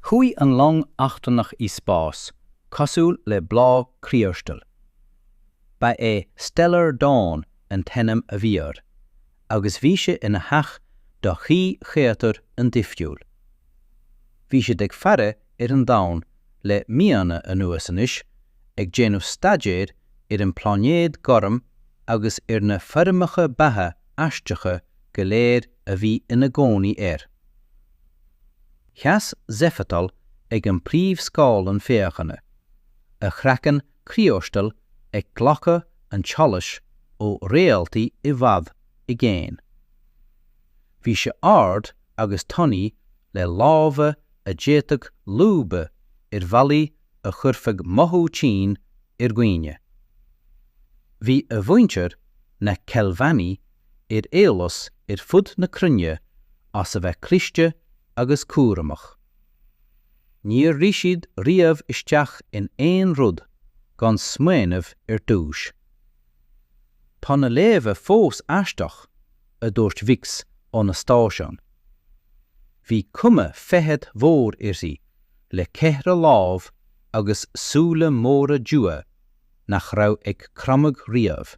Chuaigh an long eachtrannach i spás cosúil le bláth criostail. Ba é Stellar Dawn an t-ainm a bhí air, agus bhí sé ina theach do thrí chréatúr an-difriúil. Bhí siad ag faire ar an Domhan le míonna anuas anois, ag déanamh staidéir ar an bpláinéad gorm agus ar na foirmeacha beatha aisteacha go léir a bhí ina gcónaí air. Sheas Zephetal ag an bpríomhscáileán féachana, a chraiceann criostail ag glacadh an tsolais ó réaltaí i bhfad i gcéin. Bhí sé ard agus tanaí le lámha a d'fhéadfadh lúbadh ar bhealaí a chuirfeadh mothú tinn ar dhaoine. Bhí a mhuintir, na Kelvani, ar eolas ar fud na cruinne as a bheith cliste agus cúramach. Níor rith siad riamh isteach in aon rud gan smaoineamh ar dtúis. Tá na léamha fós aisteach, a dúirt Vix óna stáisiún. Bhí cuma feithid mhór uirthi, le ceithre lámh agus súile móra dubha nach raibh ag cromadh riamh.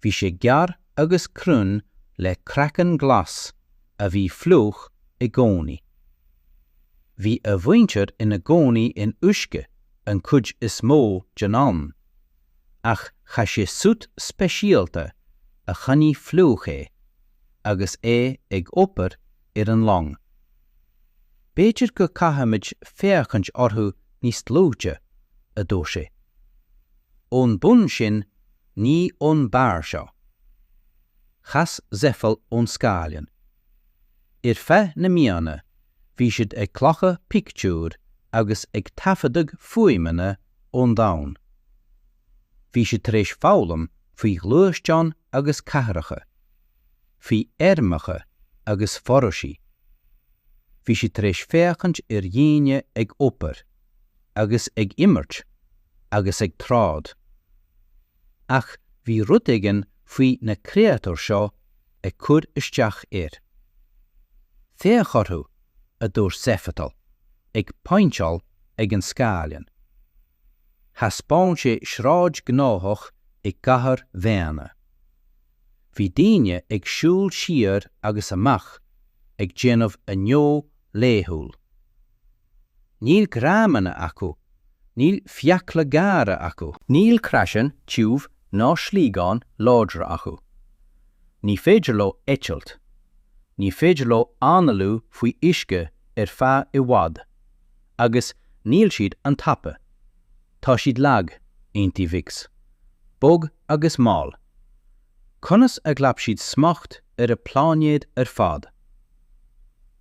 Bhí sé gearr agus cruinn le craiceann glas a bhí fliuch i gcónaí. Bhí a mhuintir ina gcónaí in uisce an chuid is mó den am, ach chaith sé suit speisialta a choinnigh fliuch é agus é ag obair ar an long. B'fhéidir go gcaithfimid féachaint orthu níos dlúite, a dúirt sé. Ón mbun sin, Ní ón mbarr seo. Chas Zefal ón scáileán. Ar feadh na míonna bhí siad ag glacadh pictiúr agus ag taifeadadh fuaimeanna ón domhan. Bhí siad tar éis foghlaim faoi ghluaisteáin agus cathracha, faoi fheirmeacha agus foraoisí. Bhí siad tar éis féachaint ar dhaoine ag obair. agus ag imirt agus ag troid. Ach bhí rud éigin faoi na créatúir seo ag cur isteach air. Féach orthu, a dúirt Zephetal, ag pointeáil ag an scáileán. Thaispeáin sé sráid gnóthach i gcathair dhaonna. Bhí daoine ag siúl siar agus amach ag déanamh a ngnó laethúil. Níl greamanna acu, níl fiacla gearra acu. Níl craiceann tiubh ná sliogáin láidre acu. Ní féidir leo eitilt. Ní féidir leo análú faoi uisce ar feadh i bhfad. Agus níl siad an-tapa. Tá siad lag, aontaobhaics. Bog agus mall. Conas a ghlac siad smacht ar an bpláinéad ar fad?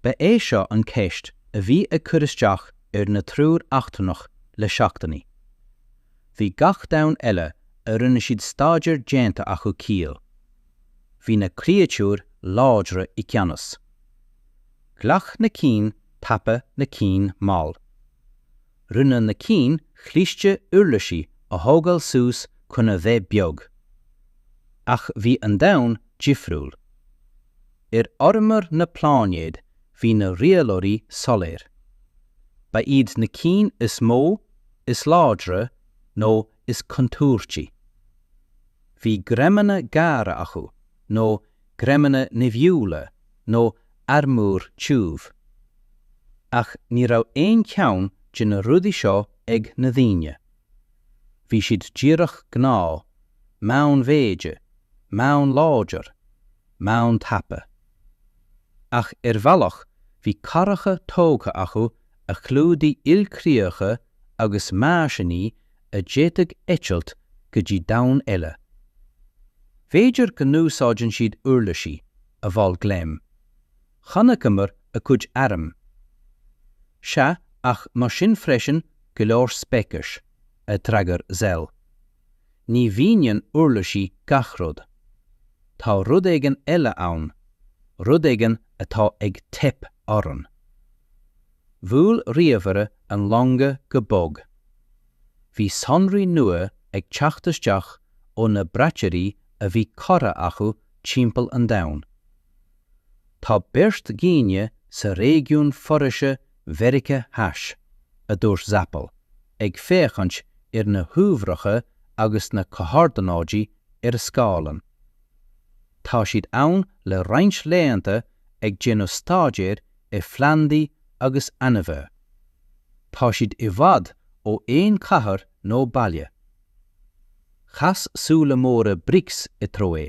Ba é seo an cheist a bhí ag cur isteach ar na triúr eachtrannach le seachtainí. Bhí gach domhan eile a rinne siad staidéar déanta acu ciall. Bhí na créatúir láidre i gceannas. Ghlac na cinn tapa na cinn mall. Rinne na cinn chliste uirlisí a thógáil suas chun a bheith beag. Ach bhí an domhan difriúil. Ar fhormhór na pláinéad bhí na rialóirí soiléir. Ba iad na cinn is mó, is láidre, nó is contúirtí. Bhí greimeanna gearra acu, nó greimeanna nimhiúla, nó armúr tiubh. Ach ní raibh aon cheann de na rudaí seo ag na daoine. Bhí siad díreach gnáth, meánmhéide, meánláidir. meántapa. Ach ar bhealach bhí cathracha tógtha acu a chlúdaigh ilchríocha agus meaisíní a d'fhéadfadh eitilt go dtí domhan eile. B'fhéidir go n-úsáideann siad uirlisí, a mhol Glemm. Chonaiceamar a gcuid airm. Sea ach mar sin freisin go leor speiceas, a d'fhreagair Zell. Ní mhíníonn uirlisí gach rud. Tá rud éigin eile ann, rud éigin atá ag teip orainn. Bhuail ríomhaire an longa go bog. Bhí sonraí nua ag teacht isteach ó na braiteoirí a bhí curtha acu timpeall an domhain. Tá beirt dhaoine sa réigiún foraise Mheirice Theas, a dúirt Zappel, ag féachaint ar na huimhreacha agus na comhordanáidí ar a scáileán. Tá siad ann le roinnt laethanta ag déanamh staidéir ar phlandaí agus ainmhithe. Tá siad i bhfad ó aon chathair nó baile. Chas súile móra Brix i dtreo é.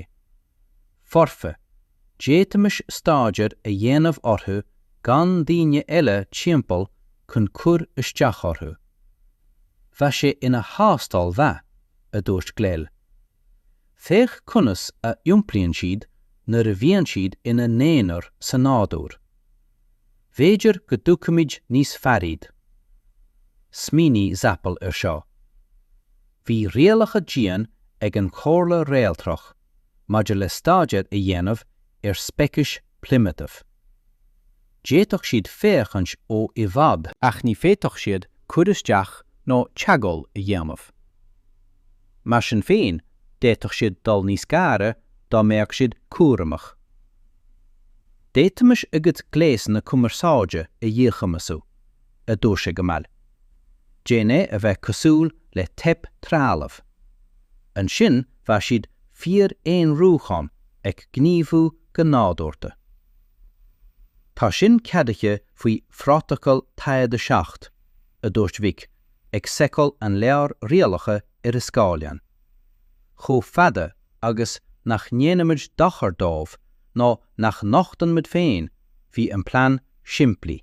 foirfe, d'fhéadfaimis staidéar a dhéanamh orthu gan daoine eile timpeall chun cur isteach orthu. Bheadh sé ina thástáil mhaith, a dúirt Glemm. Féach conas a iompraíonn siad nuair a bhíonn siad ina n-aonar sa nádúr. B'fhéidir go dtuigfimid níos fearr iad. Smaoinigh Zapl ar seo. Bhí rialacha dian ag an Chomhairle Réaltrach maidir le staidéar a dhéanamh ar speicis primitíbheacha. D'fhéadfadh siad féachaint ó i bhfad. Ach ní féadfadh siad cur isteach nó teagmháil a dhéanamh. Mar sin féin, d'fhéadfadh siad dul níos gaire dá mbeadh siad cúramach. D'fhéadfaimis a gcuid gléasanna cumarsáide a dhíchumasú, a dúirt sé go mall. Déan é a bheith cosúil le teip trealamh. Ansin bheadh siad fíor-aonrúchán ag gníomhú go nádúrta. Tá sin ceadaithe faoi Phrótacal Tayad 7, a dúirt Mhic ag seiceáil an leabhar rialacha ar a scáileán. Chomh fada agus nach ndéanaimid dochar dóibh nó nach nochtann muid féin, bhí an plean simplí.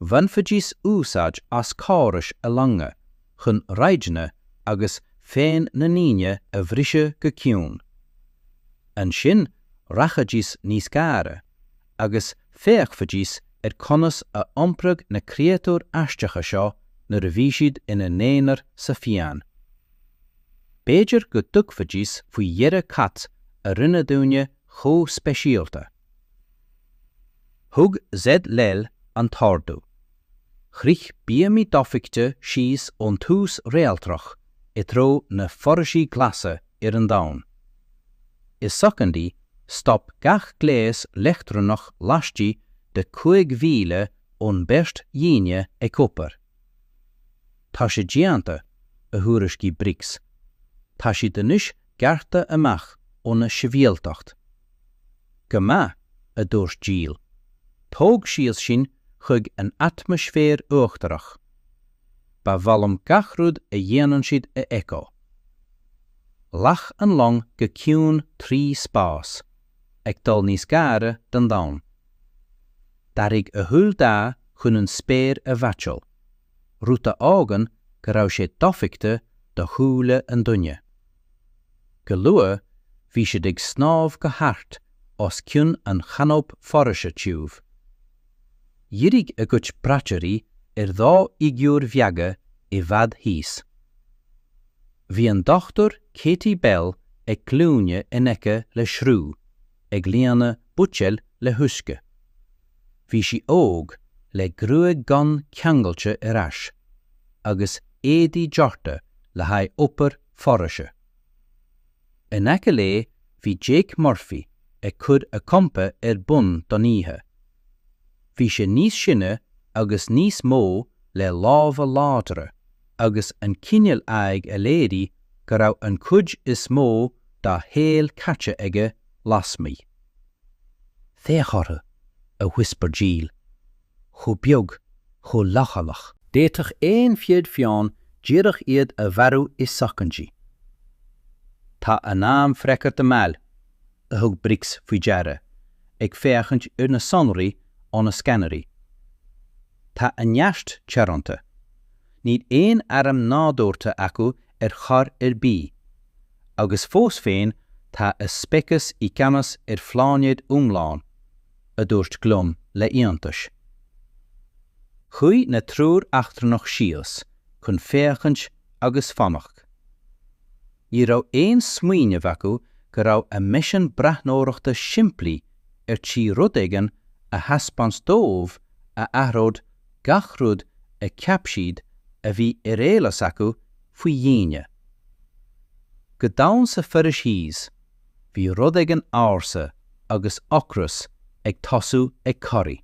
Bhainfidís úsáid as córais a longa chun raidiónna agus fóin na ndaoine a bhriseadh go ciúin. Ansin, rachaidís níos gaire, agus féachfaidís ar conas a iompródh na créatúir aisteacha seo nuair a bhí siad ina n-aonar sa fiáin. B'fhéidir go dtuigfidís faoi dheireadh cad a rinne daoine chomh speisialta. Thug Z. Llel an t-ordú. Shroich bíomaí dofheicthe síos ón tús réaltrach i dtreo na foraoise glasa ar an domhan. I soicindí, stop gach gléas leictreonach laistigh de chúig mhíle ón mbeirt dhaoine ag obair. Tá sé déanta, a thuairiscigh Briggs. Tá siad anois gearrtha amach óna sibhialtacht. Go maith, a dúirt Jill, tóg síos sinn chuig an atmaisféar uachtarach. Ba mhaith liom gach rud a dhéanann siad a fheiceáil. Ghlac an long go ciúin trí spás, ag dul níos gaire don domhan. D'athraigh a shúil dath chun an spéir a mheaitseáil. rud a fhágann go raibh sé dofheicthe do shúile an duine. Go luath bhí siad ag snámh go hard os cionn an chanóip foraoise tiubh. Dhírigh a gcuid braiteoirí ar dhá fhigiúr bheaga i bhfad thíos. Bhí an Dr Katie Bell ag glúine in aice le sruth, ag líonadh buidéil le huisce. Bhí sí óg, le gruaig dhonn ceangailte ar ais, agus éadaí deartha le haghaidh obair foraise. In aice léi bhí Jake Murphy ag cur a champa ar bun don oíche. Bhí sé níos sine agus níos mó le lámha láidre agus an cineál aghaidh a léirigh go raibh an chuid is mó dá shaol caite aige lasmuigh. Féach orthu, a whisper Gilles, chomh beag, chomh leochaileach. D'fhéadfadh aon fhia fiáin díreach iad a mharú i soicindí. Tá an t-am freagartha mall, a thug Brix faoi deara, ag féachaint ar na sonraí ó na scanairí. Tá a neart teoranta. Níl aon airm nádúrtha acu ar chor ar bith, agus fós féin tá a speiceas i gceannas ar phláinéad iomlán, a dúirt Glúm le hiontas. Chuaigh na triúr eachtrannach síos chun féachaint agus fanacht. Ní raibh aon smaoineamh acu go raibh a misean breathnóireachta simplí ar tí rud éigin a thaispeáint dóibh a athródh gach rud a cheap siad a bhí ar eolas acu faoi dhaoine. Go domhain san fhoraois thíos, bhí rud éigin ársa agus ocras ag tosú ag corraí.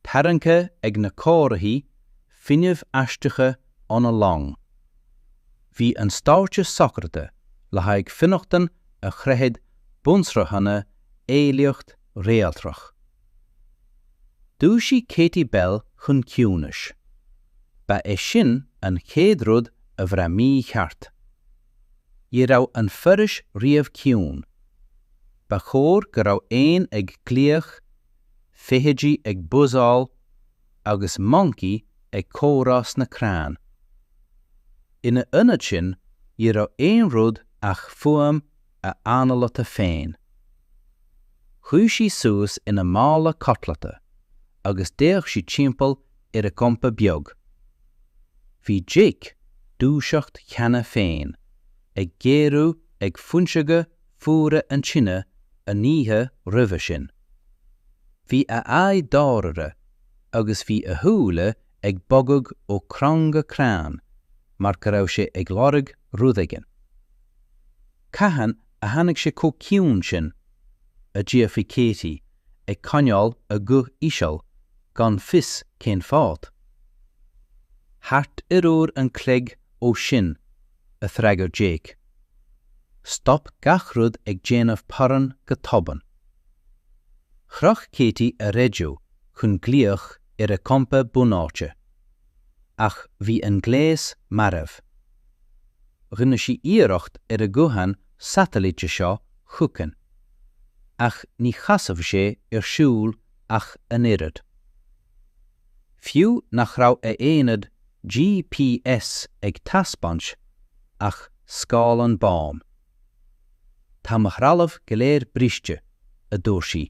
Tarraingthe ag na comharthaí fuinnimh aisteacha óna long, bhí an stáitse socraithe le haghaidh fionnachtain a chroithfeadh bunsraitheanna eolaíocht réaltrach. Dhúisigh Katie Bell chun ciúnais. Ba é sin an chéad rud a bhraith mícheart. Ní raibh an foraois riamh ciúin. Ba chóir go mbeadh éin ag glaoch, feithidí ag buzzáil, agus moncaí ag comhrá sna crainn. Ina ionad sin, ní raibh aon rud ach fuaim a hanálaithe féin. Shuigh sí suas ina mála codlata agus d'fhéach sí timpeall ar a gcampa beag. Bhí Jake dúiseacht cheana féin ag géarú ag fuinseoga fuara an tine an oíche roimhe sin. Bhí a aghaidh dáiríre agus bhí a shúile ag bogadh ó chrann go crann mar go raibh sé ag lorg rud éigin. Cathain a tháinig sé chomh ciúin sin? a d'fhiafraigh Katie ag coinneáil a guth íseal gan fios cén fáth. Thart ar uair an chloig ó sin, a d'fhreagair Jake. Stop gach rud ag déanamh pairn go tobann. Chroch Katie a raidió chun glaoch ar a campa bunáite, ach bhí an gléas marbh. Rinne sí iarracht ar a guthán satailíte seo chugainn, ach ní chasfadh sé ar siúl ach an oiread. fiú nach raibh a haonad GPS ag taispeáint ach scáileán bán. Tá mo threalamh go léir briste, a dúirt sí,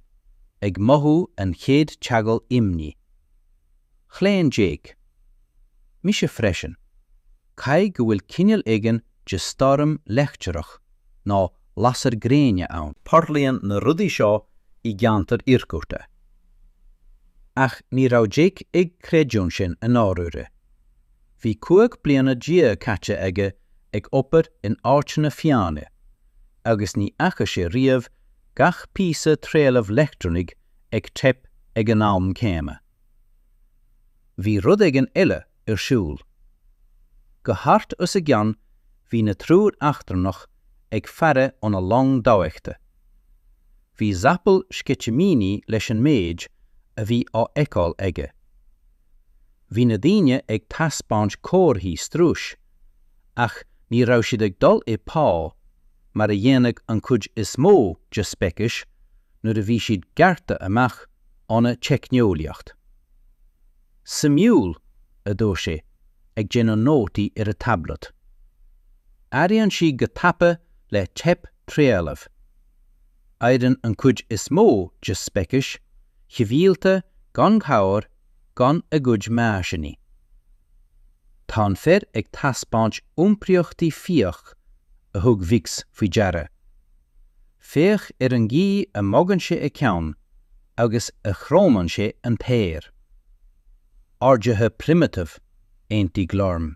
ag mothú an chéad eagla imní. Chlaon Jake. Mise freisin. caithfidh go bhfuil cineal éigin de stoirm leictreach nó lasair gréine ann. Tarlaíonn na rudaí seo i gceantair iargúlta. Ach ní raibh Jake ag creidiúint sin i ndáiríre. Bhí cúig bliana déag caite aige ag obair in áiteanna fiáine agus ní fhaca sé riamh gach píosa trealaimh leictreonaigh ag teip ag an am céanna. Bhí rud éigin eile ar siúl. Go hard os a gcionn bhí na triúr eachtrannach ag faire óna long dofheicthe. Bhí Zapol sceitimíní leis an méid a bhí á fheiceáil aige. Bhí na daoine ag taispeáint comharthaí struis, ach ní raibh siad ag dul i bpá mar a dhéanadh an chuid is mó de speicis nuair a bhí siad gearrtha amach óna teicneolaíocht. Suimiúil, a dúirt sé, ag déanamh nótaí ar a tablet. Oiriúnaíonn siad go tapa le teip trealaimh. Éiríonn an chuid is mó de speicis shibhialta gan chabhair gan a gcuid meaisíní. Tá an fear ag taispeáint iompraíochtaí fiaigh a thug Vix faoi deara, Féach ar an gcaoi a mbogann sé a cheann agus a chromann sé an t-aer. Ardaithe primitive, aontaigh Glorm.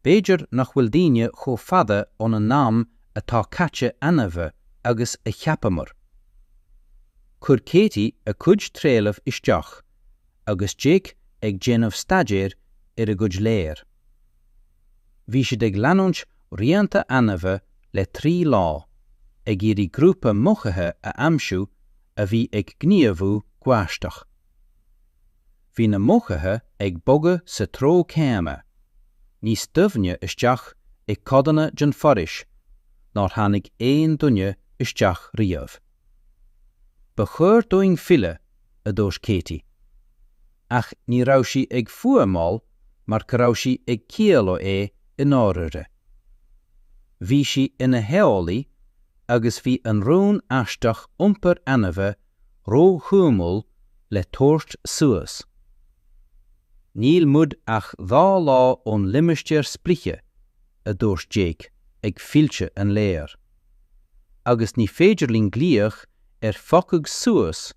B'fhéidir nach bhfuil daoine chomh fada óna n-am atá caite ainmhí agus a cheapamar. Chuir Katie a cuid trealaimh isteach agus Jake ag déanamh staidéir ar a gcuid leabhar. Bhí siad ag leanúint rianta ainmhí le trí lá, ag iarraidh grúpa mochaithe a aimsiú a bhí ag gníomhú go haisteach. Bhí na mochaithe ag bogadh sa treo céanna, níos doimhne isteach i gcodanna den fhoraois nár tháinig aon duine isteach riamh. Ba chóir dúinn filleadh, a dúirt Katie. ach ní raibh sí ag fuaimeáil mar go raibh sí ag ciallú é i ndáiríre. Bhí sí ina heolaí agus bhí an rún aisteach iompar ainimhe ró-shuimiúil le tabhairt suas. Níl muid ach dhá lá ón limistéar sprice, a dúirt Jake ag filleadh an léir. Agus ní féidir linn glaoch ar phiocadh suas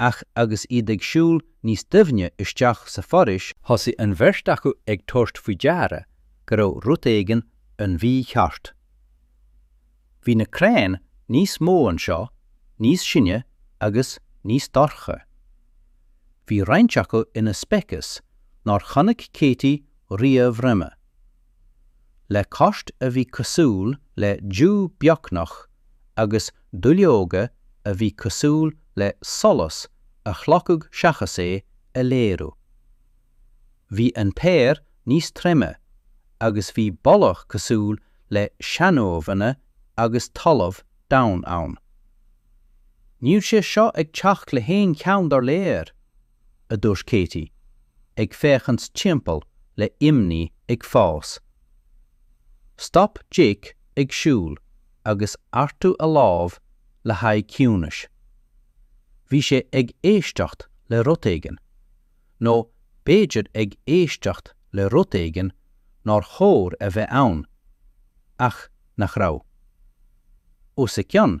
Ach agus iad ag siúl níos doimhne isteach sa fhoraois, thosaigh an bheirt acu ag tabhairt faoi deara go raibh rud éigin an-mhícheart. Bhí na crainn níos mó anseo, níos sine agus níos dorcha. Bhí roinnt acu ina speiceas nár chonaic Katie riamh roimhe. le coirt a bhí cosúil le dubh beagnach agus duilleoga a bhí cosúil le solas a chlochadh seachas é a léiriú. Bhí an t-aer níos troime agus bhí boladh cosúil le seanuamhanna agus talamh domhain ann. Níl sé seo ag teacht le haon cheann dár léir! a dúirt Katie, ag féachaint timpeall le imní ag fás. Stop Jake ag siúl agus ardú a lámh le haghaidh ciúnais. Bhí sé ag éisteacht le rud éigin, nó b'fhéidir ag éisteacht le rud éigin nár chóir a bheith ann, ach nach raibh. Os a gcionn,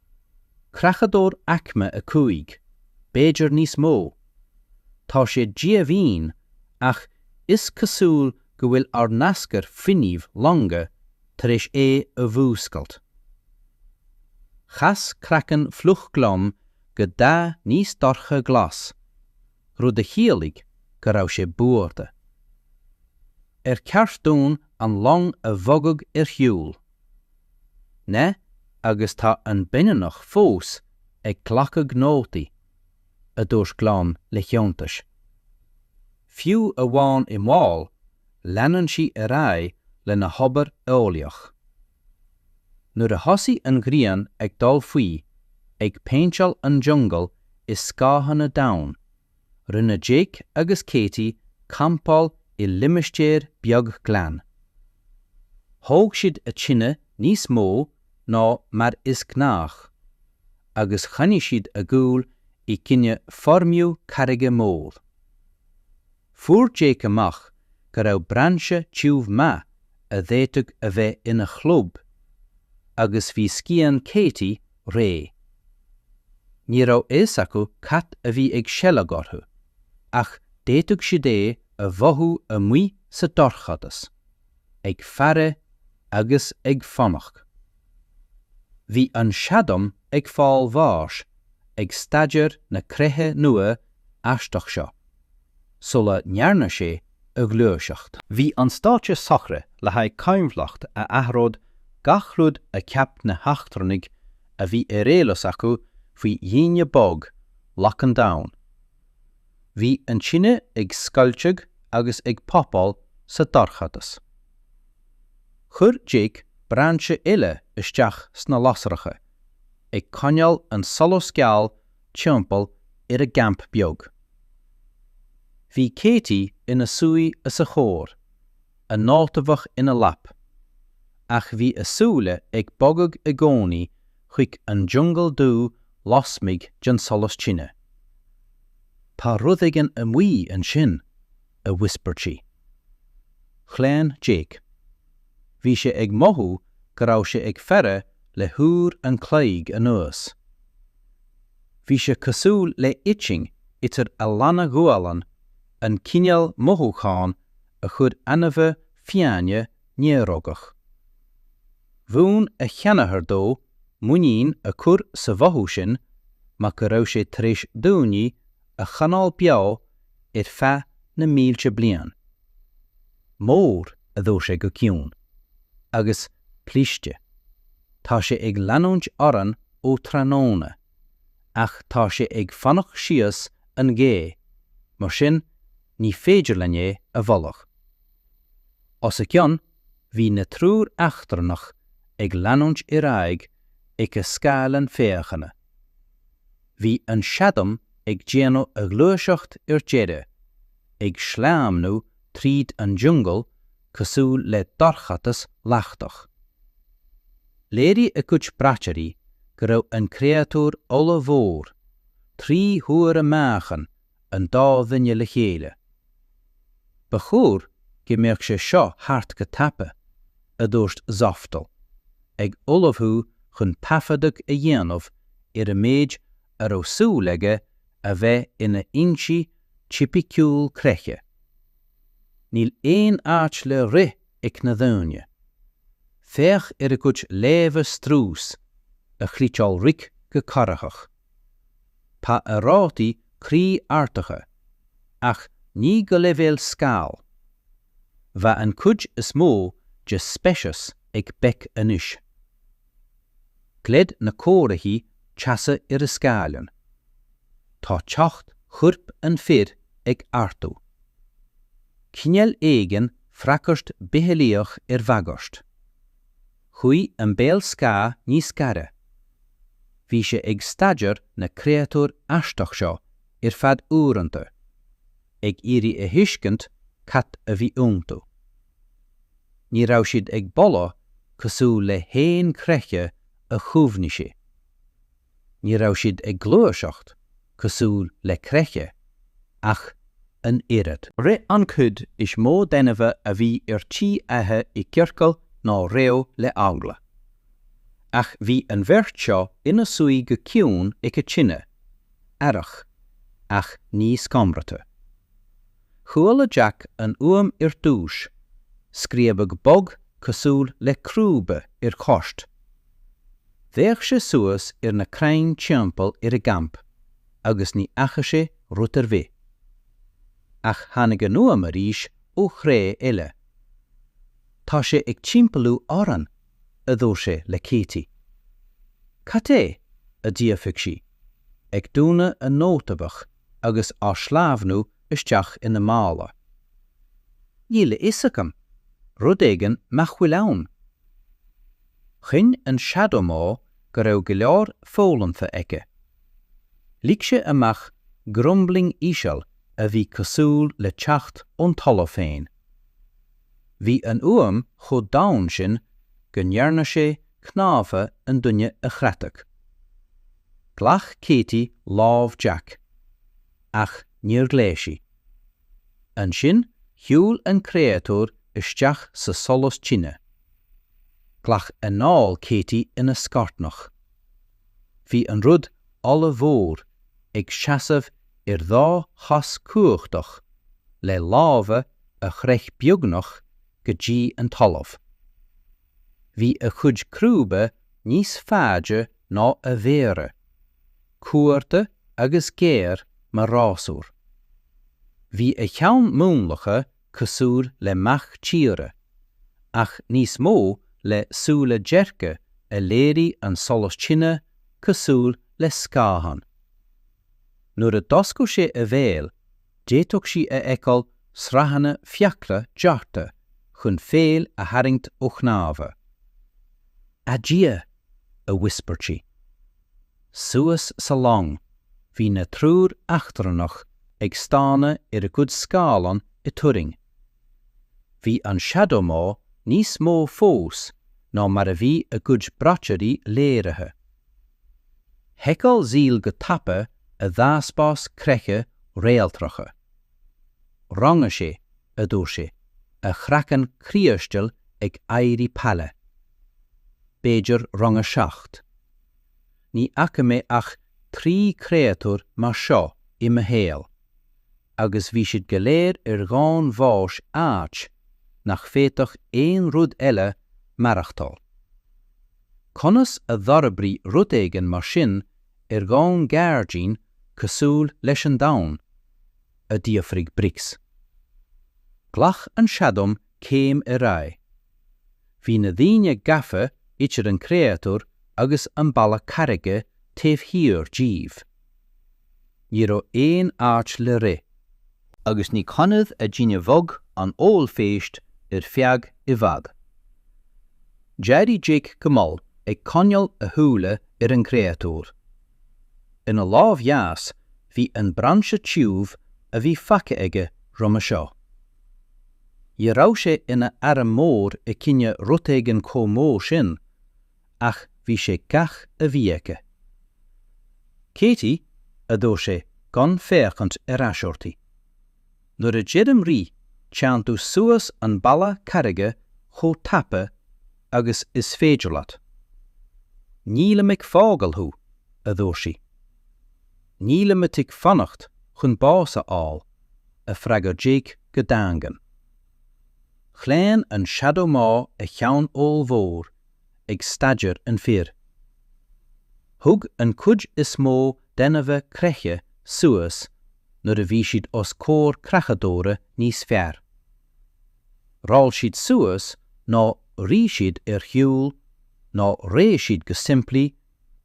Creachadóir Aicme 5, b'fhéidir níos mó? Tá sé díomhaoin ach is cosúil go bhfuil ár n-aschur fuinnimh longa tar éis é a mhúscailt. Chas craiceann fliuch Glom go dath níos dorcha glas, rud a chiallaigh go raibh sé buartha. Ar cheart dúinn an long a bhogadh ar shiúl? ne, agus tá an baineannach fós ag glacadh nótaí, a dúirt Gleann le hiontas. Fiú amháin i mbaol, leanann sí ar aghaidh lena hobair eolaíoch. Nuair a thosaigh an ghrian ag dul faoi, ag péinteáil an jungle i scáthanna domhain, Rinne Jake agus Katie campáil i limistéar beag glan. Thóg siad a tine níos mó ná mar is gnách, agus choinnigh siad a gcúl i gcoinne foirmiú carraige mór. Fuair Jake amach go raibh brainse tiubh maith a d'fhéadfadh a bheith ina chlub, agus bhí scian Katie, ré. Ní raibh fhios acu cad a bhí ag seilg orthu, ach d'fhéadfadh siad é a mhothú amuigh sa dorchadas, ag faire agus ag fanacht. Bhí an Shadom ag fáil bháis ag staidéar na creiche nua aisteach seo, sula ndearna sé a a ghluaiseacht. Bhí an stáitse socraithe le haghaidh coinbhleacht a athródh gach rud a cheap na heachtrannaigh a bhí ar eolas acu faoi dhaoine boga laga an Domhain. Bhí an tine ag scoilteadh agus ag poppáil sa dorchadas. Chuir Jake brainse eile isteach sna lasracha, ag coinneáil an solas geal timpeall ar a gcamp beag. Bhí Katie ina suí os a chomhair, a láithe mhach ina lap, ach bhí a súile ag bogadh i gcónaí chuig an jungle dú lasmuigh den solas tine. Tá rud éigin amuigh ansin. a whispered sí. Chlaon Jake. Bhí sé ag mothú go raibh sé ag faire le huair an chloig anuas. Bhí sé cosúil le itching idir a lanna ghualann an cineál mothúcháin a chuir ainmhithe fiáine néarógach. Mhúin a sheanathair dó muinín a chur sa mhothú sin mar go raibh sé tar éis daoine a choinneáil beo ar feadh na mílte bliain. Mór, a dúirt sé go ciúin. Agus cliste. Tá sé ag leanúint orainn ó tráthnóna, ach tá sé ag fanacht síos an ghaoth, mar sin ní féidir linn é a bholadh. Os a gcionn, bhí na triúr eachtrannach ag leanúint ar aghaidh ag a scáileán féachana. Bhí an Shadom ag déanamh a ghluaiseacht ar deireadh, ag sleamhnú tríd an jungle cosúil le dorchadas leachtach. Léirigh a gcuid braiteoirí go raibh an créatúr ollmhór, trí huaire meáchan an dá dhuine le chéile. Ba chóir go mbeadh sé seo thart go tapa, a dúirt Zaftal, ag ullmhú chun taifeadadh a dhéanamh ar an méid a raibh súil aige a bheith ina insint tipiciúil creiche. Níl aon áit le rith ag na daoine. Féach ar a gcuid léamha strús, a chliceáil Rick go corraitheach. Tá a rátaí croí ardaithe, ach ní go leibhéal scaoll. Bheadh an chuid is mó de speicis ag béic anois. Gleid na comharthaí teasa ar a scáileán. Tá teocht choirp an fhir ag ardú. Cineál éigin freagairt bitheolaíoch ar bhagairt. Chuaigh an béal scáth níos gaire. Bhí sé ag staidéar na créatúir aisteach seo ar feadh uaireanta, ag iarraidh a thuiscint cad a bhí iontu. Ní raibh siad ag boladh cosúil le haon chreiche a chuimhnigh sé. ní raibh siad ag gluaiseacht cosúil le creiche ach an oiread. Rith an chuid is mó díobh a bhí ar tí a n-ithe i gciorcail nó reo le eagla. Ach bhí an bheirt seo ina suí go ciúin ag an tine, aireach, ach ní scanraithe. Chuala Jack an fhuaim ar dtús, scríobadh bog cosúil le crúba ar choirt. D'fhéach sé suas ar na crainn timpeall ar an gcampa agus ní fhaca sé rud ar bhith. Ach tháinig an fhuaim arís ó threo eile. Tá sé ag timpeallú orainn, a dúirt sé le Katie. Cad é? a d'fhiafraigh sí, ag dúnadh a nótabuc agus á sleamhnú isteach ina mála. Níl a fhios agam, rud éigin nach bhfuil ann. Chinn an Shadow Maw go raibh go leor foghlamtha aige. Lig sé amach grumbling íseal a bhí cosúil le teacht ón talamh féin. Bhí an fhuaim chomh domhain sin go ndearna sé cnámha an duine a chreathadh. Ghlac Katie lámh Jack, ach níor ghlaoigh sí. Ansin shiúil an créatúr isteach sa solas tine. Ghlac anáil Katie ina scornach. Bhí an rud ollmhór ag seasamh ar dhá chos cumhachtach le lámha a shroich beagnach go dtí an talamh. Bhí a chuid crúba níos faide ná a mhéara, cuartha agus géar mar rásúr. Bhí a cheann múnlaithe cosúil le mac tíre, ach níos mó le súile dearga a léirigh an solas tine cosúil le scáthán. Nuair a d'oscail sé a bhéal, d'fhéadfadh sí a fheiceáil sraitheanna fiacla dearta chun feoil a tharraingt ó chnámha. A Dhia! a whispered sí. suas sa long, bhí na triúr eachtrannach ag stánadh ar a gcuid scáileán i dturraing. Bhí an Shadow Maw níos mó fós ná mar a bhí a gcuid braiteoirí léirithe. Sheiceáil Zil go tapa a dhataspás creiche réaltracha. Rang a 6. a dúirt sé, a chraiceann criostail ag éirí pale. B'fhéidir rang a seacht. Ní fhaca mé ach trí chréatúr mar seo i mo shaol, agus bhí siad go léir ar dhomhain bháis áit nach bhféadfadh aon rud eile maireachtáil. Conas a d'fhorbraigh rud éigin mar sin ar dhomhan gairdín cosúil leis an Domhan? a d'fhiafraigh Briggs. Ghlac an Shadow Maw céim ar aghaidh. Bhí na daoine gafa idir an créatúr agus an balla carraige taobh thiar díobh. Ní raibh aon áit le rith. Agus ní choinneodh a dtine bheag an ollphéist ar feadh i bhfad. D'éirigh Jake go mall ag coinneáil a shúile ar an gcréatúr. ina lámh dheas bhí an brainse tiubh a bhí faighte aige roimhe seo. Ní raibh sé ina arm mór i gcoinne rud éigin chomh mór sin, ach bhí sé gach a bhí aige. Katie, a dúirt sé, gan féachaint ar ais uirthi. Nuair a deirim rith, téann tú suas an balla carraige chomh tapa agus is féidir leat. Nílim ag fágáil thú, a dúirt sí. Nílim ag do d'fhanacht chun bás a fháil, a d'fhreagair Jake go daingean. Chlaon an Shadow Maw a cheann ollmhór ag staidéar an fir. Thug an chuid is mó d'ainmhithe creiche suas nuair a bhí siad os comhair creachadóra níos fearr. Roll siad suas nó rith siad ar shiúl nó reoigh siad go simplí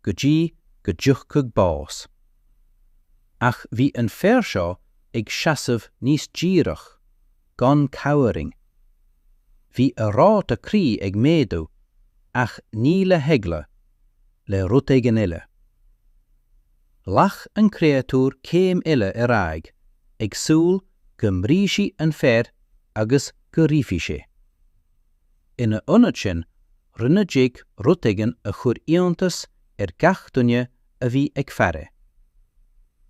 go dtí go dtiocfadh bás. Ach bhí an fear seo ag seasamh níos díreach. gan cowering. Bhí a ráta croí ag méadú, ach ní le heagla, le rud éigin eile. Ghlac an créatúr céim eile ar aghaidh, ag súil go mbrisfeadh an fear agus go rithfeadh sé. Ina ionad sin, rinne Jake rud éigin a chuir iontas ar gach duine a bhí ag faire.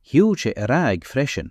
Shiúil sé ar aghaidh freisin.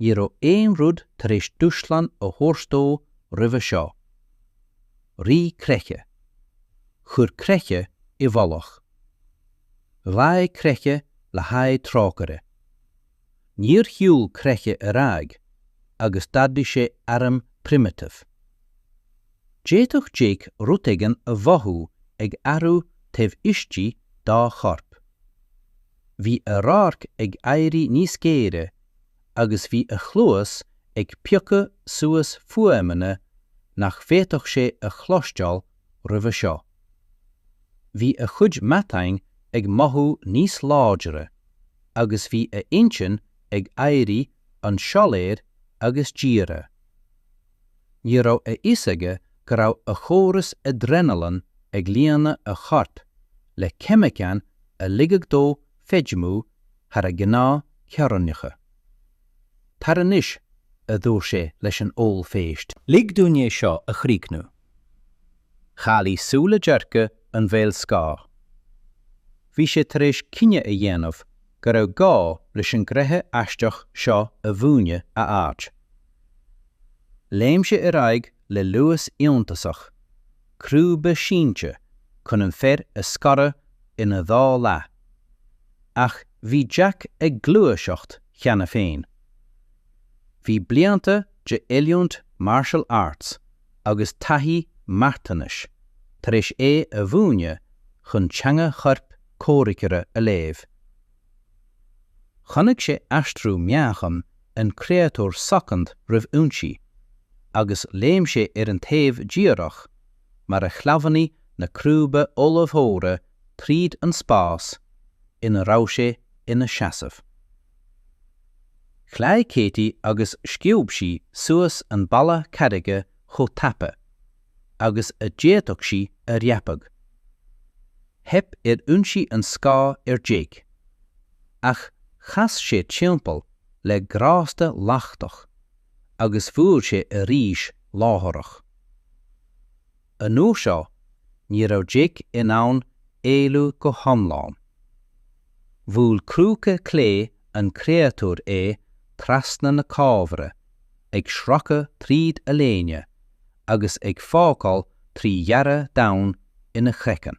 ní raibh aon rud tar éis dúshlán a thabhairt dó roimhe seo. Rith creiche. Chuir creiche i bhfolach. Ghlaoigh creiche le haghaidh trócaire. Níor shiúil creiche ar aghaidh agus d'ardaigh sé airm primitive. D'fhéadfadh Jake rud éigin a mhothú ag athrú taobh istigh dá chorp. Bhí a radharc ag éirí níos géire agus bhí a chluas ag piocadh suas fuaimeanna nach bhféadfadh sé a chloisteáil roimhe seo. Bhí a chuid matáin ag mothú níos láidre agus bhí a intinn ag éirí an-soiléir agus dírithe. Ní raibh a fhios aige go raibh a chóras adrenaline ag líonadh a choirp le ceimiceáin a ligfeadh dó feidhmiú thar a gnáth theorainneacha. Tar anois, a dúirt sé leis an ollphéist. Lig dúinn é seo a chríochnú. Chaolaigh súile dearga an bhéil scáth. Bhí sé tar éis cinneadh a dhéanamh go raibh gá leis an gcreiche aisteach seo a mhúineadh a áit. Léim sé ar aghaidh le luas iontasach, crúba sínte chun an fear a scaradh ina dhá leath. Ach bhí Jake ag gluaiseacht cheana féin. Bhí blianta de oiliúint martial arts agus taithí marthanais tar éis é a mhúineadh chun teanga choirp comhraiceora a léamh. Chonaic sé aistriú meáchan an chréatúir soicind roimh ionsaí, agus léim sé ar an taobh díreach mar a shleamhnaigh na crúba ollmhóra tríd an spás ina raibh sé ina sheasamh. Ghlaoigh Katie agus sciob sí suas an balla carraige chomh tapa agus a d'fhéadfadh sí a dhreapadh. Theip ar ionsaí an scáth ar Jake, ach chas sé timpeall le grásta lachtach agus bhuail sé arís láithreach. An uair seo, ní raibh Jake in ann éalú go hiomlán. Bhuail crúca clé an chréatúir é trasna na cófra ag sracadh tríd a léine agus ag fágáil trí ghearradh domhain ina chraiceann.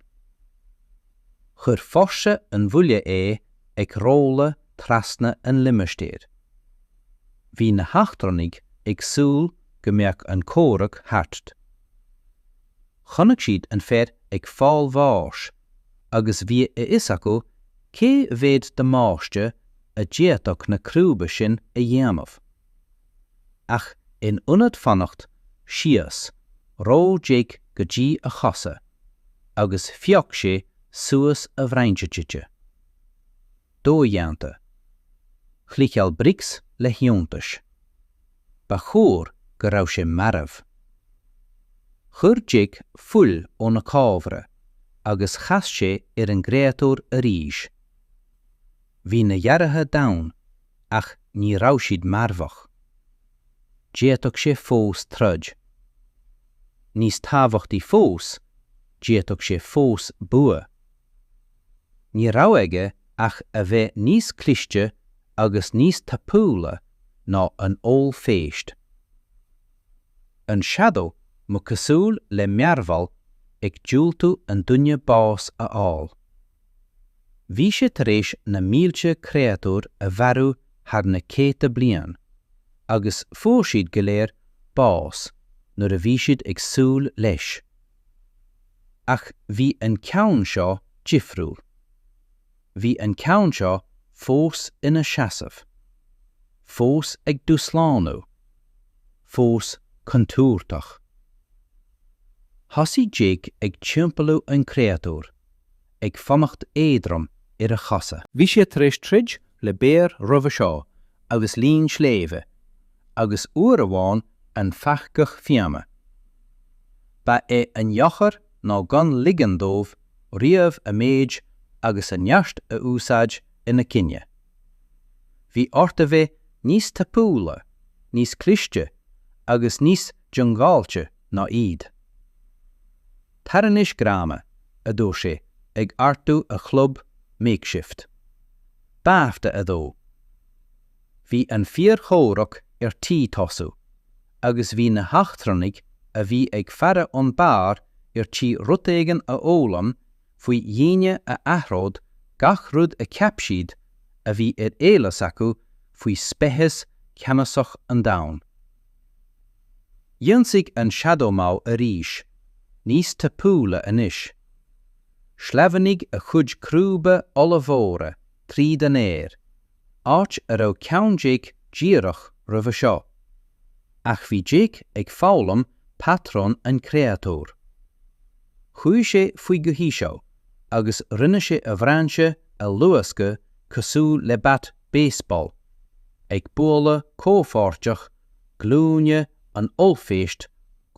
Chuir fórsa an bhuille é ag rolladh trasna an limistéir. Bhí na heachtrannaigh ag súil go mbeadh an comhrac thart. Chonaic siad an fear ag fáil bháis. agus bhí a fhios acu cé mhéad damáiste a d'fhéadfadh na crúba sin a dhéanamh. Ach in ionad fanacht síos, rolláil Jake go dtí a chosa agus phioc sé suas a bhrainse tite. Dodhéanta. Chliceáil Bricks le hiontas. Ba chóir go raibh sé marbh. Chuir Jake fuil óna chabhra agus chas sé ar an gcréatúr arís. Bhí na gearrthacha domhain ach ní raibh siad marbhach. D'fhéadfadh sé fós troid. Níos tábhachtaí fós, d'fhéadfadh sé fós bua. Ní raibh aige ach a bheith níos cliste agus níos tapúla ná an ollphéist. An Shadow Maw cosúil le mearbhall ag diúltú an duine bás a fháil. Bhí sé tar éis na mílte créatúr a mharú thar na céadta bliain, agus fuair siad go léir bás nuair a bhí siad ag súil leis. Ach bhí an ceann seo difriúil. Bhí an ceann seo fós ina seasamh. Fós ag dúshlánú. Fós contúirteach. Thosaigh Jake ag timpeallú an chréatúir. ag fanacht éadrom ar a chosa. Bhí sé tar éis troid le béar roimhe seo agus leon sléibhe, agus uair amháin an pheacach fiáine. Ba é an eochair ná gan ligean dóibh riamh a méid agus a neart a úsáid ina choinne. Bhí ort a bheith níos tapúla, níos cliste agus níos diongbháilte ná iad. Tar anois grama, a dúirt sé, ag ardú a chlub makeshift. Babhta a dó. Bhí an fíorchomhrac ar tí tosú, agus bhí na heachtrannaigh a bhí ag faire ón mbeár ar tí rud éigin a fhoghlaim faoi dhaoine a athródh gach rud a cheap siad a bhí ar eolas acu faoi speiceas ceannasach an domhain. D'ionsaigh an Shadow Maw arís, níos tapúla anois. Shleamhnaigh a chuid crúba ollmhóra tríd an aer, áit a raibh ceann Jake díreach roimhe seo. Ach bhí Jake ag foghlaim patrún an chréatúir. Chuaigh sé faoi go híseal agus rinne sé a bhrainse a luascadh cosúil le bat baseball, ag bualadh comhpháirteach glúine an ollphéist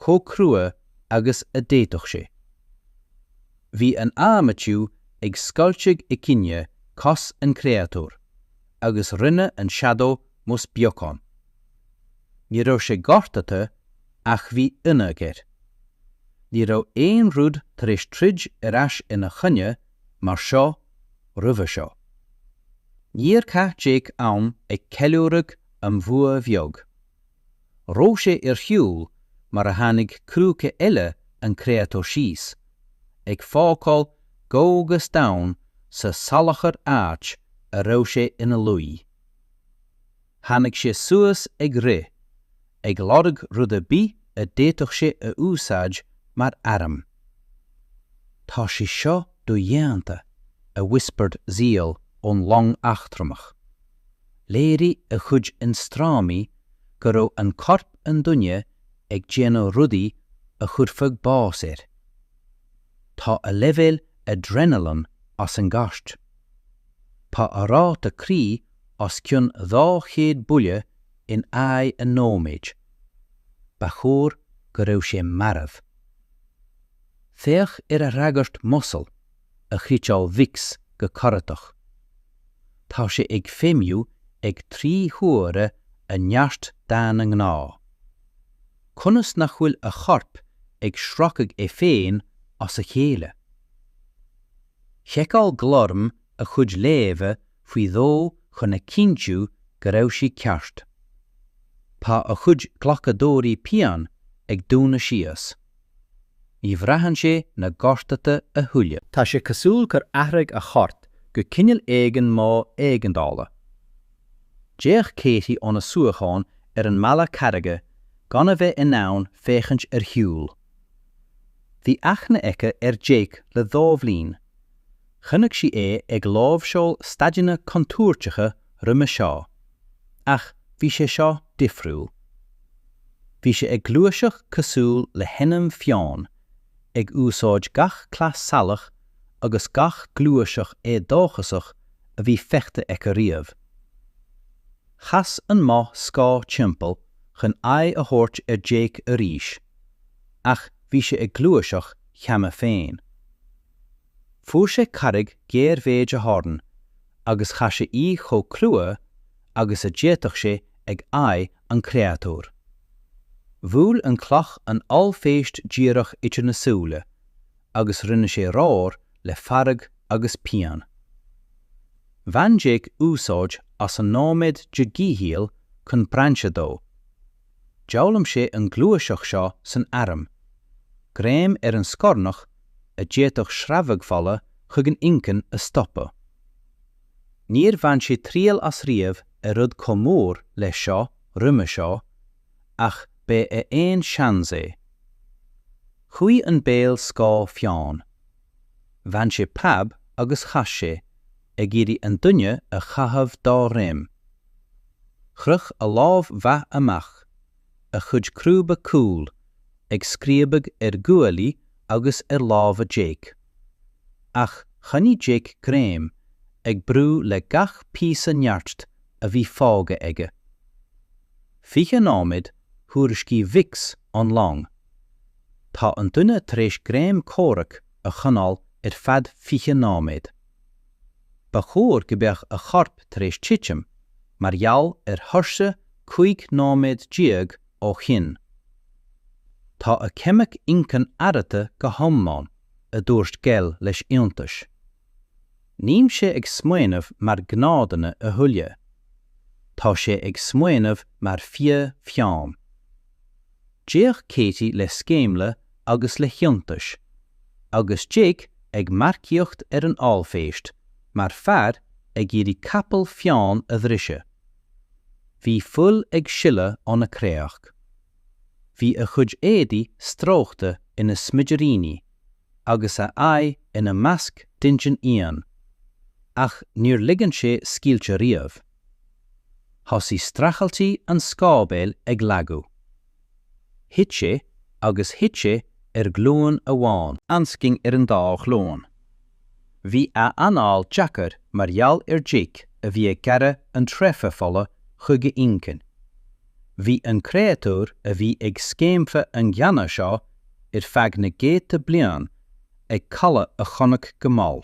chomh crua agus a d'fhéadfadh sé. Bhí an adhmad tiubh ag scoilteadh i gcoinne cos an chréatúir, agus rinne an Shadow Maw's beagán. Ní raibh sé gortaithe, ach bhí ionadh air. Ní raibh aon rud tar éis troid ar ais ina choinne mar seo roimhe seo. Níor chaith Jake am ag ceiliúradh an bhua bheag. Roll sé ar shiúl mar a tháinig crúca eile an créatúir síos, ag fágáil gouges domhain sa salachar áit a raibh sé ina luí. Tháinig sé suas ag rith, ag lorg rud ar bith a d'fhéadfadh sé a úsáid mar airm. Tá sé seo dodhéanta, a whispered Zíll ón long eachtrannach. Léirigh a chuid ionstraimí go raibh corp an duine ag déanamh rudaí a chuirfeadh bás air. Tá a leibhéil adrenaline as an gcairt. Tá a ráta croí os cionn 200 buille in aghaidh an nóiméid. Ba chóir go raibh sé marbh. Féach ar a fhreagairt muscle. a scairteáil Vix go corraitheach. Tá sé ag feidhmiú ag trí huaire a neart daonna gnáth. Conas nach bhfuil a chorp ag sracadh é féin as a chéile? Sheiceáil Glorm a chuid léamha faoi dhó chun a chinntiú go raibh siad ceart. Tá a chuid glacadóirí pian ag dúnadh síos. Ní bhraitheann sé na gortuithe a thuilleadh. Tá sé cosúil gur athraigh a chorp go cineál éigin mód éigeandála. D'fhéach Katie óna suíochán ar an mballa carraige gan a bheith in ann féachaint ar shiúl. Bhí aithne aici ar Jake le dhá bhliain. Chonaic sí é ag láimhseáil staideanna contúirteacha roimhe seo, ach bhí sé seo difriúil. Bhí sé ag gluaiseacht cosúil le hainmhí fiáin, ag úsáid gach cleas salach agus gach gluaiseacht éadóchasach a bhí feicthe aici riamh. Chas an maw scáth timpeall chun aghaidh a thabhairt ar Jake arís, ach bhí sé ag gluaiseacht cheana féin. Fuair sé carraig ghéar méid a dhoirn agus chaith sé í chomh crua agus a d'fhéadfadh sé ag aghaidh an chréatúir. Bhuail an chloch an ollphéist díreach idir na súile agus rinne sé roar le fearg agus pian. Bhain Jeaic úsáid as an nóiméad de dhíchúram chun brainse dó. D'fhoghlaim sé an ghluaiseacht seo san airm, greim ar an scornach a d'fhéadfadh sreabhadh fola chuig an inchinn a stopadh. Níor bhain sé triail as riamh ar rud chomh mór leis seo roimhe seo ach b'é a aon seans é. Chuaigh an béal scáth fiáin. Bhain sé preab agus chas sé, ag iarraidh an duine a chaitheamh dá dhroim. Chroch a lámh mhaith amach, a chuid crúba cúil ag scríobadh ar ghuaillí agus ar lámha Jake. Ach choinnigh Jake greim ag brú le gach píosa nirt a bhí fágtha aige. Fiche nóiméad thuairiscigh Vix ón long. Tá an duine tar éis greim comhraic a choinneáil ar feadh fiche nóiméad. Ba chóir go mbeadh a chorp tar éis titim mar gheall ar thuirse 15 nóiméad ó shin. Tá a cheimic incan arrata go hiomlán, a dúirt Gell le hiontas. Níl sé ag smaoineamh mar ghnáthduine a thuilleadh. Tá sé ag smaoineamh mar fia fiáin. D'fhéach Katie le sceimhle agus le hiontas, agus Jake ag marcaíocht ar an ollphéist mar fear ag iarraidh capall fiáin a bhriseadh. Bhí fuil ag sileadh óna chréachtaí. Bhí a chuid éadaí stróicthe ina smidiríní, agus a aghaidh ina masc d'intinn íon, ach níor ligean sé scaoilte riamh. Thosaigh streachailtí an scáthbhéil ag lagú. Thit sé agus thit sé ar ghlúin amháin. Ansin ar an dá ghlúin. Bhí a anáil deacair mar gheall ar Jake a bhí ag gearradh an tsreafa fola chuig a inchinn. Bhí an créatúr a bhí ag sceimhliú an ghleanna seo ar feadh na gcéadta bliain ag cailleadh a chonaic go mall.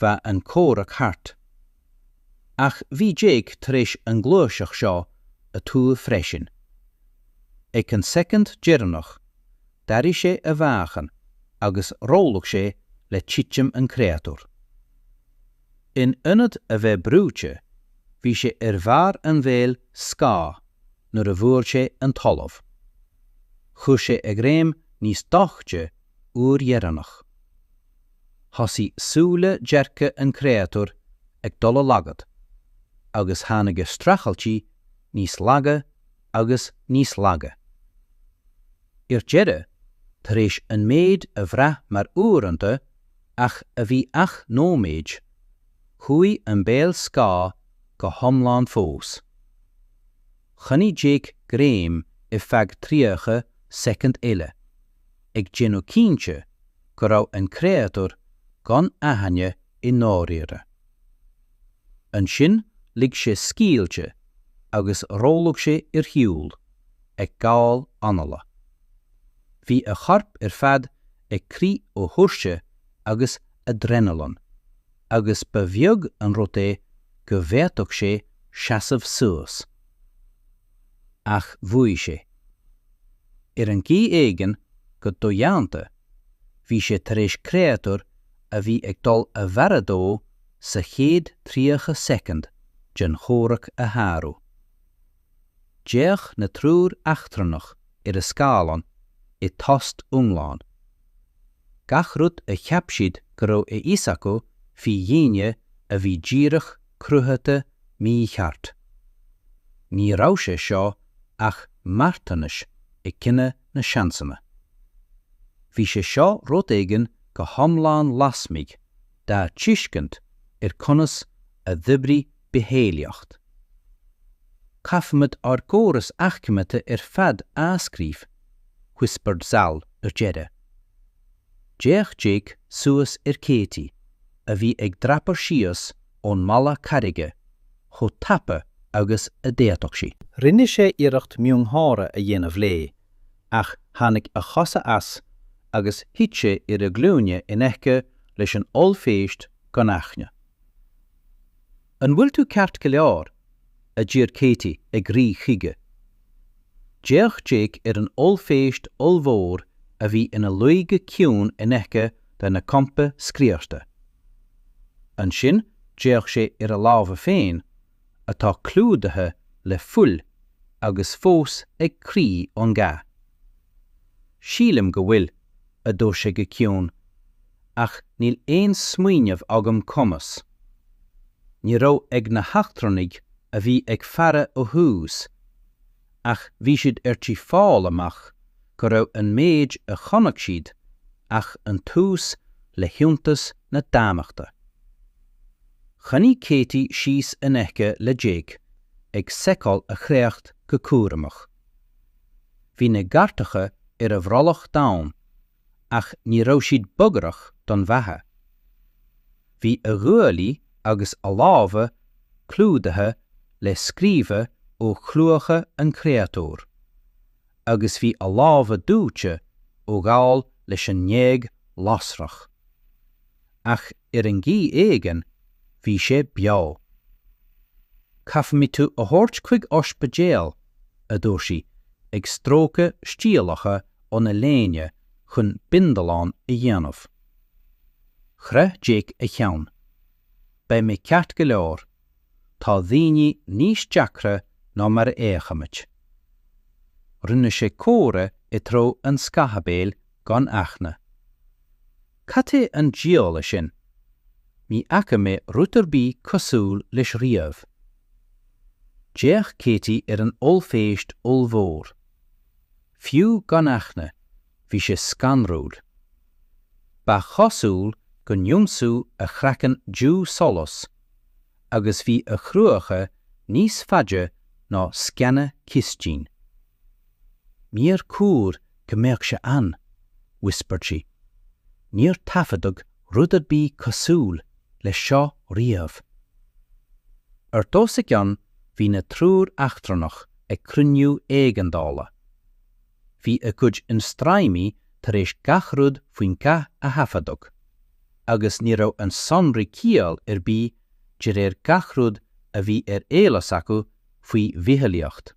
bheadh an comhrac thart. Ach bhí Jake tar éis an ghluaiseacht seo a thuar freisin. Ag an soicind deireanach, d'athraigh sé a mheáchan agus rollaigh sé le titim an chréatúir. In ionad a bheith brúite, bhí sé ar bharr an bhéil scáth nuair a bhuail sé an talamh. Chuir sé a ghreim níos doichte uair dheireanach. Thosaigh súile dearga an chréatúir ag dul i laghad, agus tháinig a streachailtí níos laige agus níos laige. Ar deireadh, tar éis an méid a bhraith mar uaireanta ach a bhí ach nóiméid, chuaigh an béal scáth go hiomlán fós. Choinnigh Jake greim ar feadh 30 soicind eile. ag déanamh cinnte go raibh an créatúr gan aithne i ndáiríre. Ansin lig sé scaoilte agus rolláil sé ar shiúl, ag gabháil anála. Bhí a chorp ar fad ag crith ó thuirse agus aidréanailin, agus ba bheag an rud é go bhféadfadh sé seasamh suas. ach bhuaigh sé. Ar chaoi éigin, go dodhéanta, bhí sé tar éis créatúr a bhí ag dul a mharú dó sa chéad tríocha soicind den chomhrac a shárú. D'fhéach na triúr eachtrannach ar a scáileáin i dtost iomlán. gach rud a cheap siad go raibh a fhios acu faoi dhaoine a bhí díreach cruthaithe mícheart. Ní raibh sé seo ach marthanas ag cinneadh na seansanna. Bhí sé seo rud éigin go hiomlán lasmuigh dá tuiscint ar conas a d'oibrigh bitheolaíocht. Caithfimid ár gcóras aicmithe ar fad a athscríobh, whispered Zal ar deireadh. D'fhéach Jake suas ar Katie, a bhí ag dreapadh síos ón mballa carraige chomh tapa agus a d'fhéadfadh sí. Rinne sé iarracht miongháire a dhéanamh léi, ach tháinig a chosa as agus thit sé ar a ghlúine in aice leis an ollphéist gan aithne. An bhfuil tú ceart go leor? a d'iarr Katie ag rith chuige. D'fhéach Jake ar an ollphéist ollmhór a bhí ina luí go ciúin in aice lena champa scriosta. Ansin d'fhéach sé ar a lámha féin, atá clúdaithe le fuil agus fós ag crith ón gcath. Sílim go bhfuil, a dúirt sé go ciúin, ach níl aon smaoineamh agam conas. Ní raibh ag na heachtrannaigh a bhí ag faire ó thús, ach bhí siad ar tí fáil amach go raibh an méid a chonaic siad ach an tús le hiontas na dámachta. Choinnigh Katie síos in aice le Jake ag seiceáil a chréacht go cúramach. Bhí na gearrthacha ar a bhrollach domhain ach ní raibh siad bagrach don bheatha. Bhí a ghuaillí agus a lámha clúdaithe le scríoba ó chrúba an chréatúir, agus bhí a lámha dóite ó ghabháil leis an ngéag lasrach. Ach Ar chaoi éigin, bhí sé beo. Caithfimid tú a thabhairt chuig oispidéal, a dúirt sí, ag stróiceadh stiallacha óna léine chun bindealán a dhéanamh. Chroith Jake a cheann. Beidh mé ceart go leor. Tá daoine níos deacra ná mar a fhéachaimid. Rinne sé comhartha i dtreo an scáthaibéil gan aithne. Cad é an diabhal é sin? Ní fhaca mé rud ar bith cosúil leis riamh. D'fhéach Katie ar an ollphéist ollmhór. Fiú gan aithne, bhí sé scanrúil. Ba chosúil go n-ionsúdh a chraiceann dubh solas, agus bhí a chruacha níos faide ná sceana cistine. Níor chóir go mbeadh sé ann, whispered sí. Níor taifeadadh rud ar bith cosúil leis seo riamh. Ard os a gcionn bhí na triúr eachtrannach ag cruinniú éigeandála. Bhí a gcuid ionstraimí tar éis gach rud faoin gcath a thaifeadadh, agus ní raibh na sonraí ciall ar bith de réir gach rud a bhí ar eolas acu faoi bhitholaíocht.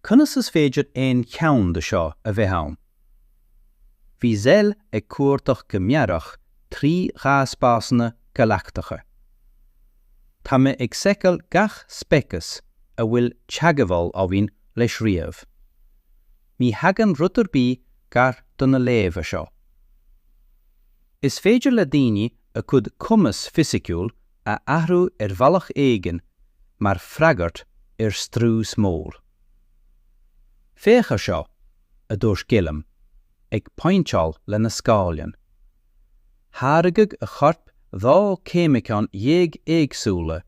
Conas is féidir aon cheann de seo a bheith ann? Bhí Zell ag cuardach go mearach trí dhatabásanna galachtacha. Tá mé ag seiceáil gach speiceas a bhfuil teagmháil againn leis riamh. Ní thagann rud ar bith gar do na léamha seo. Is féidir le daoine a gcuid cumas fisiciúil a athrú ar bhealach éigin mar freagairt ar strús mór. Féach ar seo, a dúirt Gliúrim, ag pointeáil lena scáileán. Tháirgeadh a chorp dhá cheimiceán dhéag éagsúla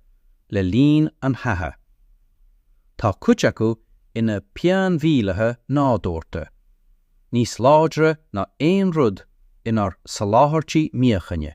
le linn an chatha. Tá cuid acu ina bpianmhúcháin nádúrta, níos láidre ná aon rud inár soláthairtí míochaine.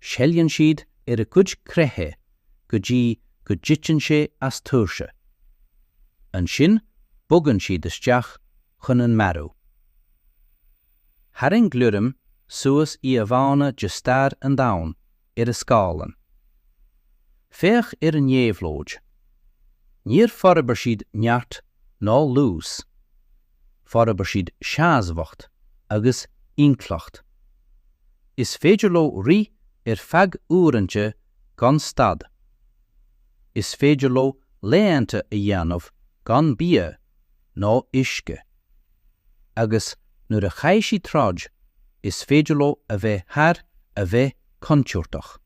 Seilgeann siad a gcuid creiche go dtí go dtiteann sé as tuirse. Ansin bogann siad isteach chun an mharú. Tharraing Gliúrim suas íomhánna de stair an domhain ar a scáileán. Féach ar a n-éabhlóid. Níor forbair siad neart ná luas. Forbair siad seasmhacht agus intleacht. Is féidir leo rith ar feadh uaireanta gan stad. Is féidir leo laethanta a dhéanamh gan bia ná uisce. Agus nuair a chaith siad troid, is féidir leo a bheith thar a bheith contúirteach.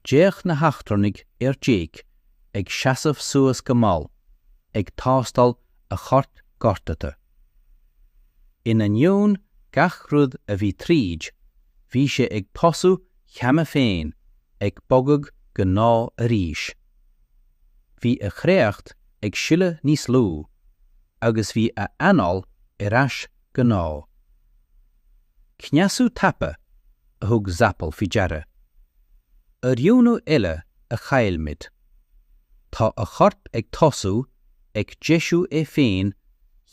D'fhéach na heachtrannaigh ar Jake ag seasamh suas go mall, ag tástáil a choirp gortaithe. In ainneoin gach rud a bhí tríd, bhí sé ag tosú cheana féin, ag bogadh go gnáth arís. Bhí a chréacht ag sileadh níos lú, agus bhí a anáil ar ais go gnáth. Cneasú tapa! a thug Zapol faoi deara. Oiriúnú eile a chaill muid. Tá a chorp ag tosú ag deisiú é féin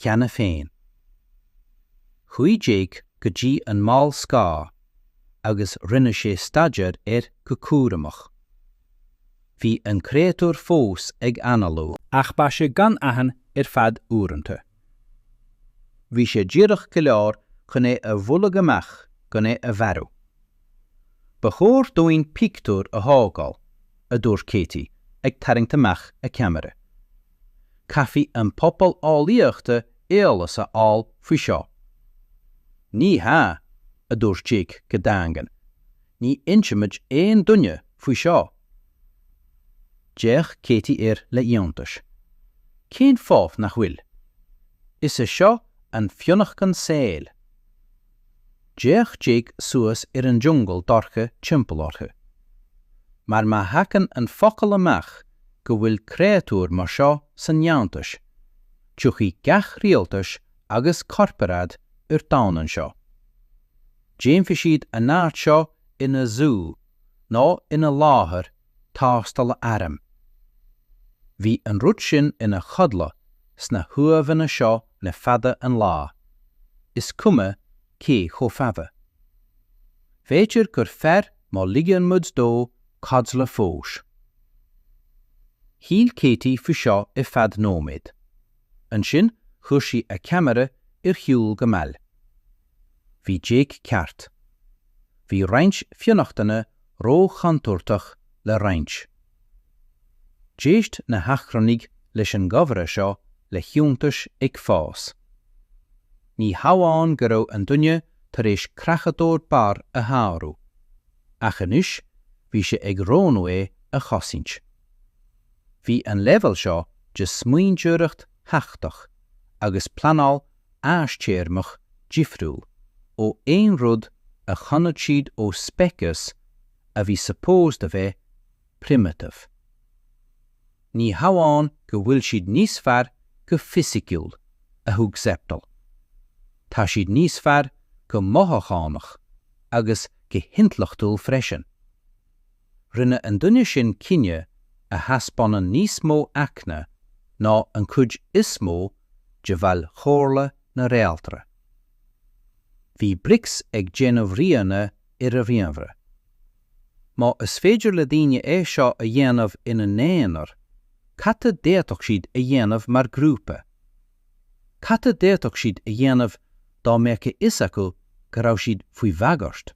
cheana féin. Chuaigh Jake go dtí an mall scáth agus rinne sé staidéar air go cúramach. Bhí an créatúr fós ag análú. Ach beidh sé gan aithne ar feadh uaireanta. Bhí sé díreach go leor chun é a bhualadh amach gan é a mharú. Ba chóir dúinn pictiúr a thógáil, a dúirt Katie, ag tarraingt amach a ceamara. Caithfidh an pobal eolaíochta eolas a fháil faoi seo. Ní hea, a dúirt Jake go daingean, ní insimid aon duine faoi seo. D'fhéach Katie air le hiontas. 'Cén fáth nach bhfuil? Is é seo an fionnachtain saoil. D'fhéach Jake suas ar an jungal dorcha timpeall orthu. 'Mar má thagann an focal amach go bhfuil créatúr mar seo san fhiántas, tiocfaidh gach rialtas agus corparáid ar domhan anseo. Déanfaidh siad an áit seo ina zú. nó ina láthair tástála airm. Bhí an rud sin ina chodladh sna huaimheanna seo le fada an lá, is cuma cé chomh fada. B'fhéidir gur fearr má ligeann muid dó codladh fós. Shíl Katie faoi seo ar feadh nóiméad. Ansin chuir sí a ceamara ar shiúl go mall. Bhí Jake ceart. Bhí roinnt fionnachtana ró-chontúirteach le roinnt. D'éist na heachtrannaigh leis an gcomhrá seo le hiontas ag fás. Ní hamháin go raibh an duine tar éis creachadóir barr a shárú, ach anois bhí sé ag roghnú é a chosaint. Bhí an leibhéal seo de smaointeoireacht theaicticeach agus pleanáil fhadtéarmach difriúil ó aon rud a chonaic siad ó speiceas a bhí supposed a bheith primitive. Ní hamháin go bhfuil siad níos fearr go fisiciúil, a thug Zeffel, tá siad níos fearr go mothúchánach agus go hintleachtúil freisin. rinne an duine sin cinneadh a thaispeánann níos mó eagna ná an chuid is mó de bhaill Chomhairle na Réaltra. Bhí Brix ag déanamh ríomhanna ar a ríomhaire. Má is féidir le daoine é seo a dhéanamh ina n-aonar, cad a d'fhéadfadh siad a dhéanamh mar ghrúpa? Cad a d'fhéadfadh siad a dhéanamh dá mbeadh a fhios acu go raibh siad faoi bhagairt?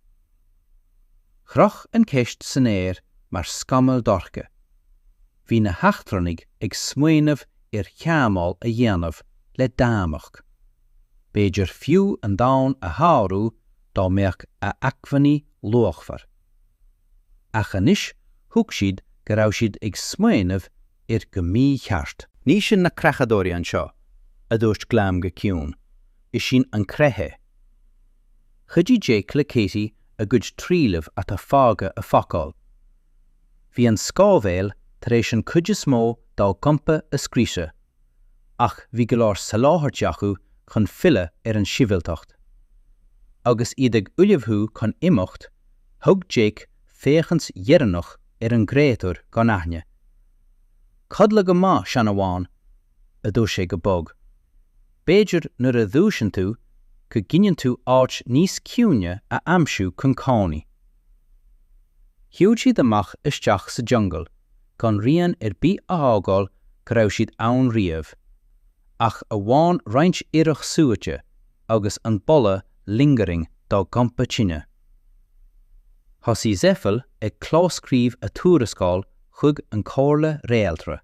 Chroch an cheist san aer mar scamall dorcha. Bhí na heachtrannaigh ag smaoineamh ar theagmháil a dhéanamh le Dameq. B'fhéidir fiú an domhan a shárú dá mbeadh a acmhainní luachmhar. ach anois thuig siad go raibh siad ag smaoineamh air go mícheart. Ní sinn na creachadóirí anseo, a dúirt Glam go ciúin, is sinn an chreach. Chuidigh Jake le Katie a gcuid trealamh atá fágtha a phacáil. Bhí an scámhéal tar éis an chuid is mó dá gcampa a scriosadh. ach bhí go leor soláthairtí acu chun filleadh ar an sibhialtacht. Agus iad ag ullmhú chun imeacht, thug Jake féachaint dheireanach ar an gcréatúr gan aithne. Codladh go maith, sean amháin! a dúirt sé go bog. B'fhéidir nuair a dhúiseann tú go gcinneann tú áit níos ciúine a aimsiú chun cónaí. Shiúd siad amach isteach sa jungle gan rian ar bith a fhágáil go raibh siad ann riamh, ach amháin roinnt ithreach suaite agus an boladh lingering dá gcampa tine. Thosaigh Zeffel ag clóscríobh a tuarascáil chuig an Chomhairle Réaltra.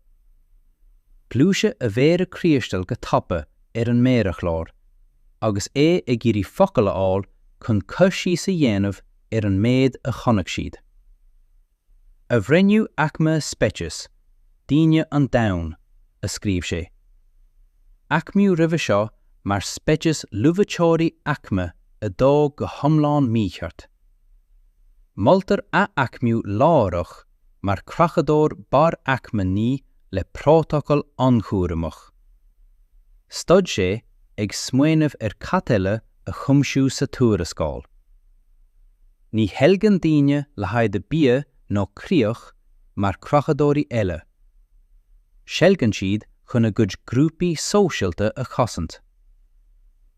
Ghluais a mhéara criostail go tapa ar an méarchlár agus é ag iarraidh focail a fháil chun cur síos a dhéanamh ar an méid a chonaic siad. a bhreithniú aicme speiceas daoine an Domhain, a scríobh sé. Aicmiú roimhe seo mar speiceas luibhiteoirí aicme 2 go hiomlán mícheart. Moltar ath-aicmiú láithreach mar creachadóir barr aicme 9 le prótacal an-chúramach. Stad sé ag smaoineamh ar cad eile a chuimsiú sa tuarascáil. Ní sheilgeann daoine le haghaidh bia nó críoch mar chreachadóirí eile. Seilgeann siad chun a gcuid grúpaí sóisialta a chosaint.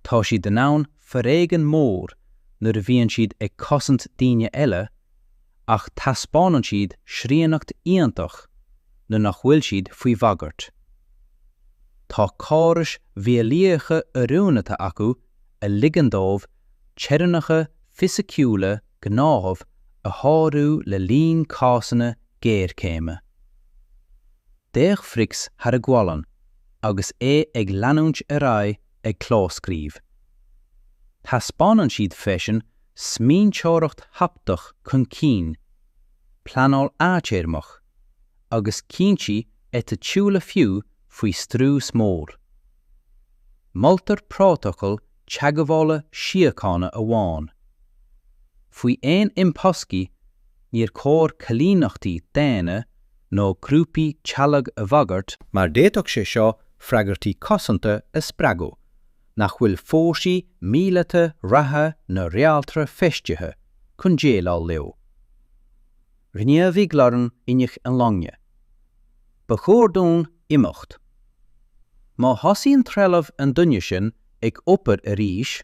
Tá siad in ann foréigean mór nuair a bhíonn siad ag cosaint daoine eile ach taispeánann siad srianacht iontach nuair nach bhfuil siad faoi bhagairt. Tá córais mhíolaíocha oiriúnata acu a ligeann dóibh teorainneacha fisiciúla gnátha a shárú le linn cásanna géarchéime. D'fhéach Fricks thar a ghualainn agus é ag leanúint ar aghaidh ag clóscríobh. Taispeánann siad freisin smaointeoireacht theaictach chun cinn, pleanáil fhadtéarmach, agus cinntí eiticiúla fiú faoi strús mór. Moltar prótacal teagmhála síochána amháin. Faoi aon imthoscaí, níor chóir coilíneachtaí daonna nó grúpaí teaghlaigh a bhagairt, mar d'fhéadfadh sé seo freagairtí cosanta a spreagadh nach bhfuil fórsaí míleata reatha na réaltra feistithe chun déileáil leo. Ghníomhaigh Lauren inneall na loinge. Ba chóir dúinn imeacht. Má thosaíonn trealamh an duine sin ag obair arís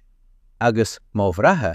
agus má bhreatha